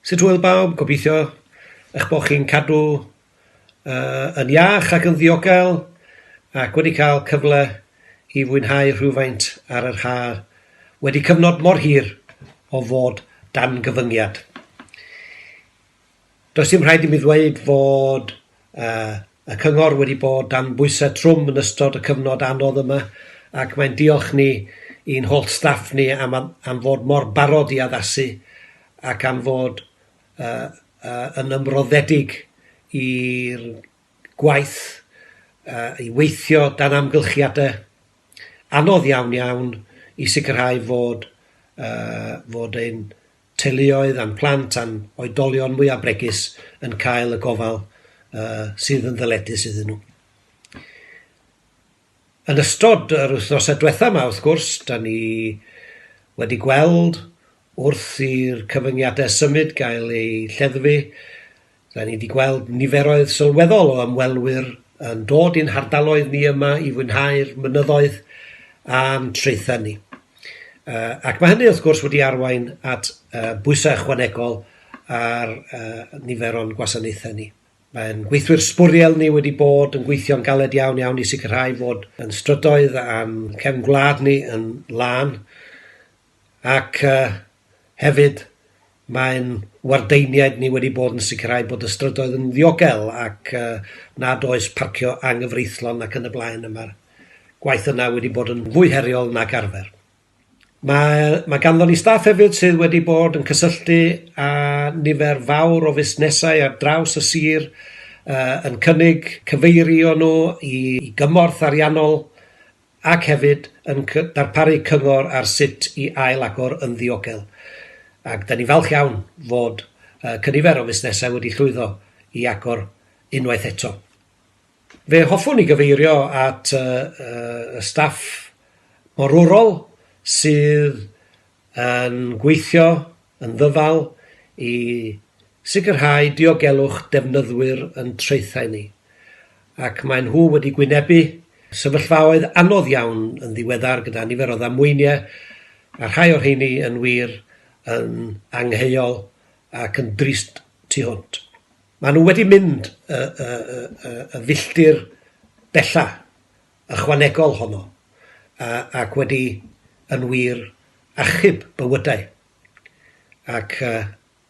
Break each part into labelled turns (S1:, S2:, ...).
S1: Sut hwyl bawb, gobeithio eich bod chi'n cadw uh, yn iach ac yn ddiogel ac wedi cael cyfle i fwynhau rhywfaint ar yr haf wedi cyfnod mor hir o fod dan gyfyngiad. Does dim rhaid i mi ddweud fod y Cyngor wedi bod dan bwysau trwm yn ystod y cyfnod anodd yma ac mae'n diolch ni i'n holl staff ni am am fod mor barod i addasu ac am fod yn ymroddedig i'r gwaith, i weithio dan amgylchiadau anodd iawn iawn i sicrhau fod fod ein teuluoedd a'n plant a'n oedolion mwyaf bregus yn cael y gofal uh, sydd yn ddyledus iddyn nhw. Yn ystod yr wythnosau diwethaf yma, wrth gwrs, da ni wedi gweld wrth i'r cyfyngiadau symud gael eu lleddfu, R'an ni 'di gweld niferoedd sylweddol o ymwelwyr yn dod i'n hardaloedd ni yma i fwynhau'r mynyddoedd a'n traethau ni. Uh, ac mae hynny wrth gwrs wedi arwain at uh, bwysau ychwanegol ar uh, nifer o'n gwasanaethau ni. Mae'n gweithwyr sbwriel ni wedi bod yn gweithio'n galed iawn iawn i sicrhau fod yn strydoedd a'n cefn gwlad ni yn lân. Ac hefyd, mae'n wardeiniaid ni wedi bod yn sicrhau bod y strydoedd yn ddiogel ac nad oes parcio anghyfreithlon ac yn y blaen, a mae'r gwaith yna wedi bod yn fwy heriol nag arfer. Mae, mae ganddon ni staff hefyd sydd wedi bod yn cysylltu â nifer fawr o fusnesau ar draws y sir, yn cynnig cyfeirio nhw i gymorth ariannol, ac hefyd yn darparu cyngor ar sut i ail-agor yn ddiogel. Ac dan ni'n falch iawn fod cynifer o fusnesau wedi llwyddo i agor unwaith eto. Fe hoffwn i gyfeirio at y staff morwrol sydd yn gweithio yn ddyfal i sicrhau diogelwch defnyddwyr yn traethau ni, ac maen nhw wedi gwynebu sefyllfaoedd anodd iawn yn ddiweddar gyda nifer o ddamweiniau, a rhai o'r rheiny yn wir yn angheuol ac yn drist tu hwnt. Maen nhw wedi mynd y filltir bellach. ychwanegol honno ac wedi yn wir achub bywydau, ac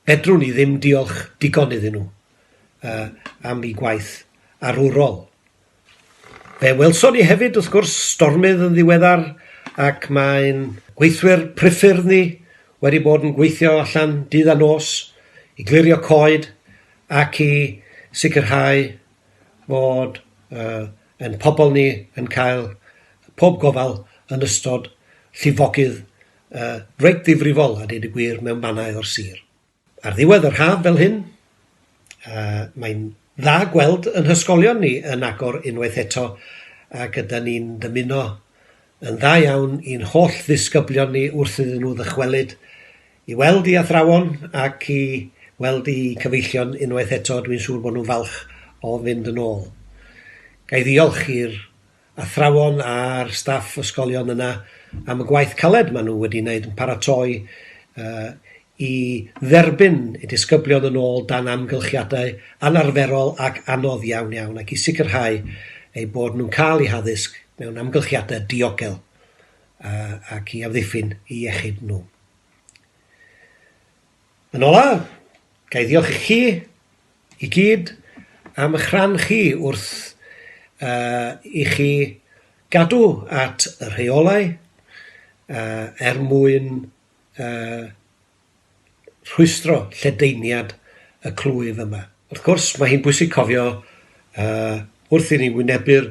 S1: fedrwn i ddim diolch digon iddyn nhw am eu gwaith arwrol. Fe welson ni hefyd, wrth gwrs, stormydd yn ddiweddar, ac mae'n gweithwyr priffyrdd ni wedi bod yn gweithio allan dydd a nos i glirio coed ac i sicrhau fod Ein pobl ni yn cael pob gofal yn ystod llifogydd reit ddifrifol a dweud y gwir mewn mannau o'r sir. Ar ddiwedd yr haf fel hyn, mae'n dda gweld yn hysgolion ni yn agor unwaith eto ac ydan ni'n dymuno yn dda iawn i'n holl ddisgyblion ni wrth iddyn nhw ddychwelyd I weld i athrawon ac i weld i cyfeillion unwaith eto, dwi'n siŵr bod nhw'n falch o fynd yn ôl. Ga i ddiolch i'r athrawon a'r staff ysgolion yna am y gwaith caled maen nhw wedi wneud yn paratoi i dderbyn y disgyblion yn ôl dan amgylchiadau anarferol ac anodd iawn iawn ac i sicrhau eu bod nhw'n cael eu haddysg mewn amgylchiadau diogel ac i amddiffyn eu iechyd nhw. Yn ola', ga i ddiolch i chi i gyd am ych rhan chi wrth yy i chi gadw at y rheolau yy er mwyn yy rhwystro lledaeniad y clwyf yma. Wrth gwrs, mae hi'n bwysig cofio yy wrth i ni wynebu'r